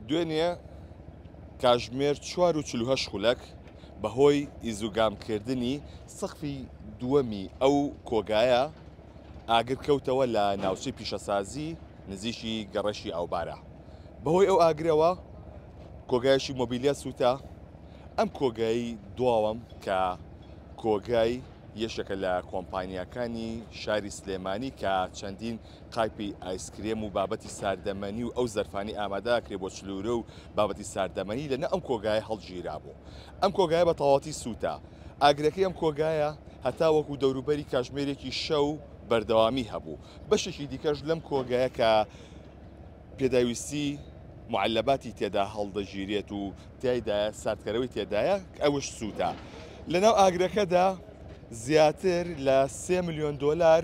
دوێنێ کاژمێر چوار و چل و هەشت خولەک بەهۆی ئیزوگامکردنی سەقفی دووەمی ئەو کۆگایە ئاگر کەوتەوە لە ناوچەی پیشەسازی نزیکی گەڕەشی ئاوبارە بەهۆی ئەو ئاگرەوە کۆگایشی مۆبیلیا سووتا ئەم کۆگایی دواوەم کە کۆگای یەشەکە لە کۆمپانیەکانی شاری سلێمانی کە چەندین قایپی ئایسکرێم و بابەتی ساردەمەنی و ئەو زەرفانەی ئامادە ئەکرێ بۆ چلوورە و بابەتی ساردەمەنی لە نە ئەم کۆگایە هەڵگیرابوو. ئەم کۆگایە بە تەواوەتی سووتا. ئاگرەکەی ئەم کۆگایە هەتا وەکوو دەوروبەری کاژمێرێکی شەو بەردەوامی هەبوو. بەشێکی دیکەش لەم کۆگایە کە پێداویستی معلباتی تێدا هەڵدەگیرێت و تیایدایە ساردکەرەوەی تێدایە ئەوش سووتا. لە ناو ئاگرەکەدا زیاتر لە سێ ملیۆن دۆلار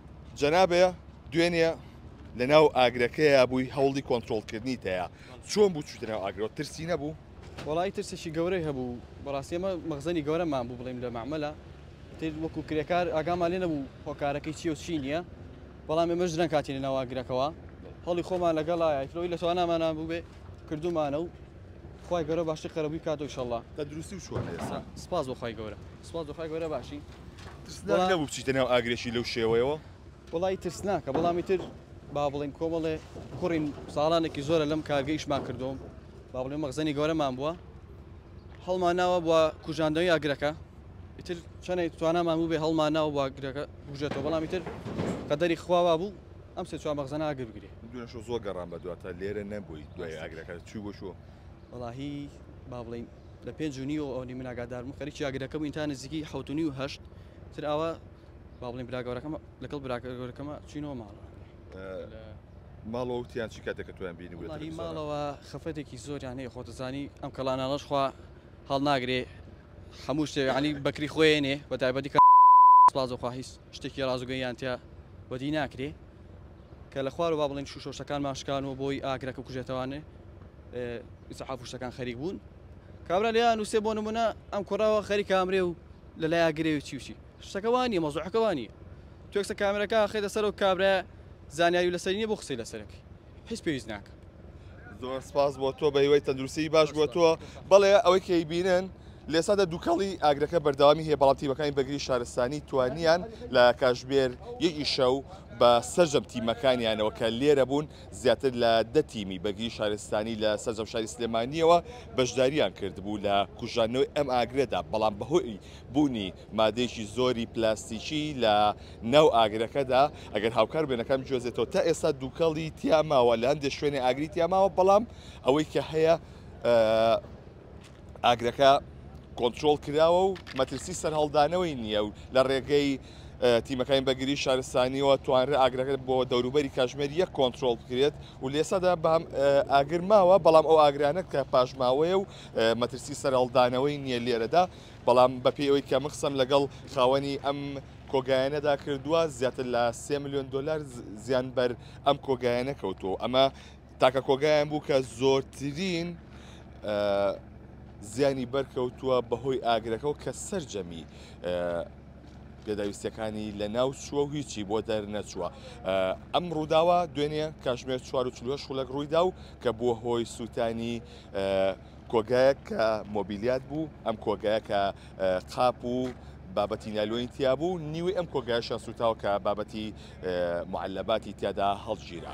جەنابێ دوێنێ لە ناو ئاگرەکەیە بووی هەوڵی کۆنتترۆلکردنی تەیە چۆن بوو چوتە ناو ئاگرۆ ترسی نەبوو وڵی ترسێکی گەورەی هەبوو بەڕاستی ئەمە مەغزەنی گەورەمان بوو بڵیم لە معمەلە وەکو کرێکار ئاگامان لێ نەبوو هۆکارەکەی چی و چی نییە بەڵام ئێمە ژران کاتی لە ناواگرەکەەوە هەڵی خۆمان لەگەڵایەوەی لە توانامانان بووێ کردومانە و خوای گەورە باشتری قەرەبووی بکاتەوە ئیشەڵڵا. تەندروستی و چۆنە ئێستا؟ سپاس بۆ خوای گەورە. سپاس بۆ خوای گەورە باشین. ترسناک نەبوو بچیتە ناو ئاگرێکی لەو شێوەیەوە؟ وەڵایی ترسناکە بەڵام ئیتر با بڵێین کۆمەڵێ کوڕین ساڵانێکی زۆرە لەم کارگەی ئیشمان کردووە و با بڵێین مەخزەنی گەورەمان بووە هەڵماناوە بۆ کوژاندنەوەی ئاگرەکە ئیتر چەندێک توانامان بوو بێ هەڵماناوە بۆ ئاگرەکە بکوژێتەوە بەڵام ئیتر قەدەری خوا وا بوو ئەم سێ چوار مەخزەنە ئاگر بگرێ. دوێنێ شەو زۆر گەڕام بە دواتە لێرە نەبووی دوای ئاگرەکە چووی بۆ شوو؟ وەڵاهی با بڵێین لە پێنج و نیو ئەوەنی من ئاگادار بووم خەریکی ئاگرەکە بووین تا نزیکی حەوت و نیو هەشت تر ئاوا با بڵێین برا گەورەکەم لەگەڵ برا گەورەکەمە چوینەوە ماڵەوە ماڵەوە وتیان چی کاتێک کە تۆیان بینی بوو لە وەڵاهی تەلەفزیۆنە؟ ماڵەوە خەفەتێکی زۆریان هەیە خۆتەزانی ئەم کەڵانانەش خوا هەڵناگرێ هەموو شتێ عنی بەکری خۆێنێ بە تایبەتی کە سپاس بۆ خوا هیچ شتێکی ڕاستگۆییان تیا بەدی ناکرێ کە لە خوارەوە با بڵێن شووشە و شتەکانمان شکان و بۆی ئاگرەکە کوژێتەوانێ ئیسەحاف و شتەکان خەریک بوون کابرا لێیان نووسێ بۆ نمونە ئەم کوڕەوە خەری کامرێ و لە لای ئاگرێ و چی و چی شتەکەوانی مەزوحەکەوانی توێکسە کامرەکە خێدە سەر و کابرا زانیاری لەسەرینە بۆ قسەی لەسەرەکەی هیچ پێویست ناکە زۆر سپاس بۆ تۆ بە هیوای تەندروستی باش بۆ تۆ بەڵێ ئەوەی کەی بینن لێسادا دووکەڵی ئاگرەکە بەردەوامی هەیە بەڵام تیمەکانی بەگری شارستانی توانیان لە کاژمێر یەکی شەو بە سەرجەم تیمەکانیانەوە کە لێرە بوون زیاتر لە دە تیمی بەگری شارستانی لە سەرجەم شاری سلێمانیەوە بەشداریان کردبوو لە کوژانەوەی ئەم ئاگرێدا بەڵام بەهۆی بوونی مادەیەکی زۆری پلاستیکی لە ناو ئاگرەکەدا ئەگەر هاوکار بێنەکە بجوێزێتەوە تا ئێستا دووکەڵی تیا ماوە لە هەندێک شوێنی ئاگری تیا ماوە بەڵام ئەوەی کە هەیە ئاگرەکە کۆنتترۆل کراوە و مەترسی سەرهەڵدانەوەی نییە و لە ڕێگەی تیمەکانی بەگری شارستانیەوە توانرە ئاگرەکە بۆ دەوروبەری کاژمێر یەک کۆنتترۆل بکرێت و لێسادا بەم ئاگرماوە بەڵام ئەو ئاگرانە کە پاشماوەیە و مەترسی سەرهەڵدانەوەی نییە لێرەدا بەڵام بەپێی ئەوەی کە من قسەم لەگەڵ خاوەنی ئەم کۆگایەنەدا کردووە زیاتر لە سێ میلیۆن دلار زیان بەر ئەم کۆگایەنە کەوتو ئەمە تاکە کۆگایان بوو کە زۆرترین زیانی بەرکەوتووە بەهۆی ئاگرەکە و کە سرجەمی پێداویستەکانی لە ناو چووە و هیچی بۆ دەرنەچووە ئەم ڕووداوە دوێنێ کاژمێر 4 خوڵک ڕوویدا و کە بووە هۆی سووتانی کۆگایەک کە مۆبیلیات بوو، ئەم کۆگایە کە قاپ و بابەتی نایلۆنی تیا بوو، نیوەی ئەم کۆگایشیان سووتاوە کە بابەتی معلباتی تیادا هەڵگیرا.